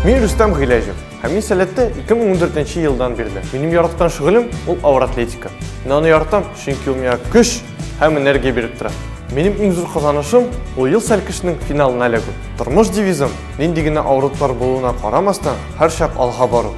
Мин Рустам Гыйләҗев. Һәм мин сәләттә 2014 елдан бирле. Минем яраткан шөгылем ул авыр атлетика. Мин аны яратам, чөнки ул миңа көч һәм энергия биреп тора. Минем иң зур казанышым ул ел сәлкешнең финалына эләгү. Тормыш девизым нинди генә авырлыклар булуына карамастан, һәрчак алга бару.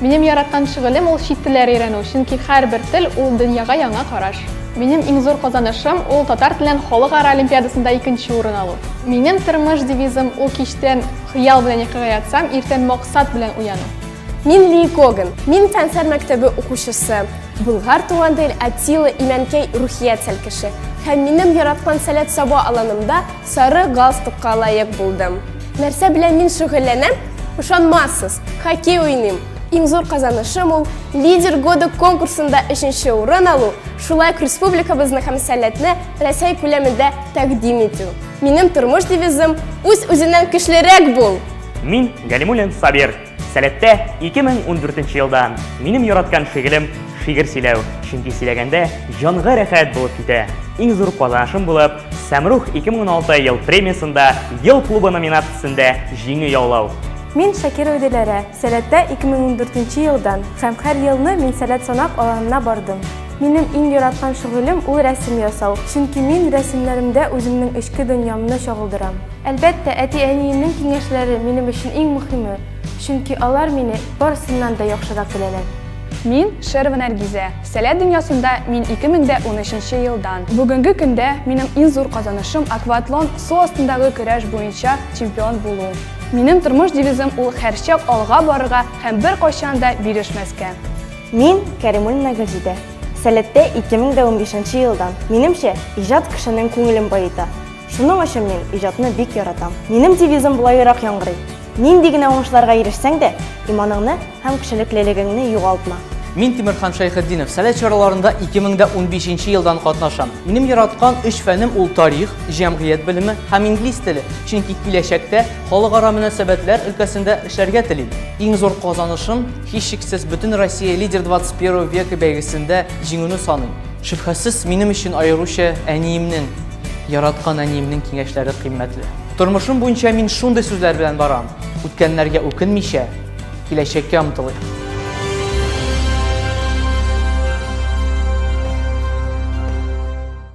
Минем яраткан шөгылем ул чит телләр өйрәнү, чөнки һәрбер тел ул дөньяга яңа караш. Минем иң зур казанышым ул татар телен халыкара олимпиадасында икенче урын алу. Минем тормыш девизым ул кичтән хыял белән йокыга ятсам, иртән максат белән уяну. Мин Ли Коган. Мин фәннәр мәктәбе укучысы. Болгар туган тел, Атилла Имәнкәй рухият сәлкеше. Һәм минем яраткан сәләт саба аланымда Сары галстукка лаек булдым. Нәрсә белән мин шөгыльләнәм? Ышанмассыз, хоккей уйныйм. Иң зур казанышым ул Лидер года конкурсында өченче урын алу, шулай ук республикабызны һәм сәләтне Рәсәй күләмендә тәкъдим итү. Минем тормыш девизым үз-үзеннән көчлерәк бул! Мин Галимуллин Сабир. Сәләттә 2014 елда минем яраткан шигелем шигер сөйләү, чөнки сөйләгәндә җанга рәхәт булып китә. Иң зур казанышым булып, Сәмрух 2016 ел премиясендә Ел клубы номинациясендә җиңү яулау. Мин Шакирова Диләрә, Сәләттә 2014 елдан һәм һәр елны мин Сәләт санак аланына бардым. Минем иң яраткан шөгылем ул рәсем ясау, чөнки мин рәсемнәремдә үземнең эчке дөньямны чагылдырам. Әлбәттә, әти-әниемнең киңәшләре минем өчен иң мөхиме, чөнки алар мине барысыннан да яхшырак беләләр. Мин, Шерова Нәргизә. Сәләт дөньясында мин 2013 нче елдан. Бүгенге көндә минем иң зур казанышым акватлон, су астындагы көрәш буенча чемпион булу. Минем тормыш девизым ул һәрчак алга барырга һәм беркайчан да бирешмәскә. Мин, Кәримуллина Гөлҗидә. Сәләттә 2015 нче елдан. Минемчә, иҗат кешенең күңелен баета. Шуның өчен мин иҗатны бик яратам. Минем девизым болайрак яңгырый. Нинди генә уңышларга ирешсәң дә, иманыңны һәм кешелеклелегеңне югалтма. Мин Тимерхан Шәйхетдинов, Сәләт чараларында 2015 елдан катнашам. Минем яраткан өч фәнем ул тарих, җәмгыять белеме һәм инглиз теле, чөнки киләчәктә халыкара мөнәсәбәтләр өлкәсендә эшләргә телим. Иң зур казанышым, һичшиксез, бөтен Россия Лидер 21 века бәйгесендә җиңүне саныйм. Шөбһәсез, минем өчен аеруча әниемнең, Яраткан әниемнең киңәшләре кыйммәтле. Тормышым буенча мин шундый сүзләр белән барам. Үткәннәргә үкенмичә, киләчәккә омтылыйк.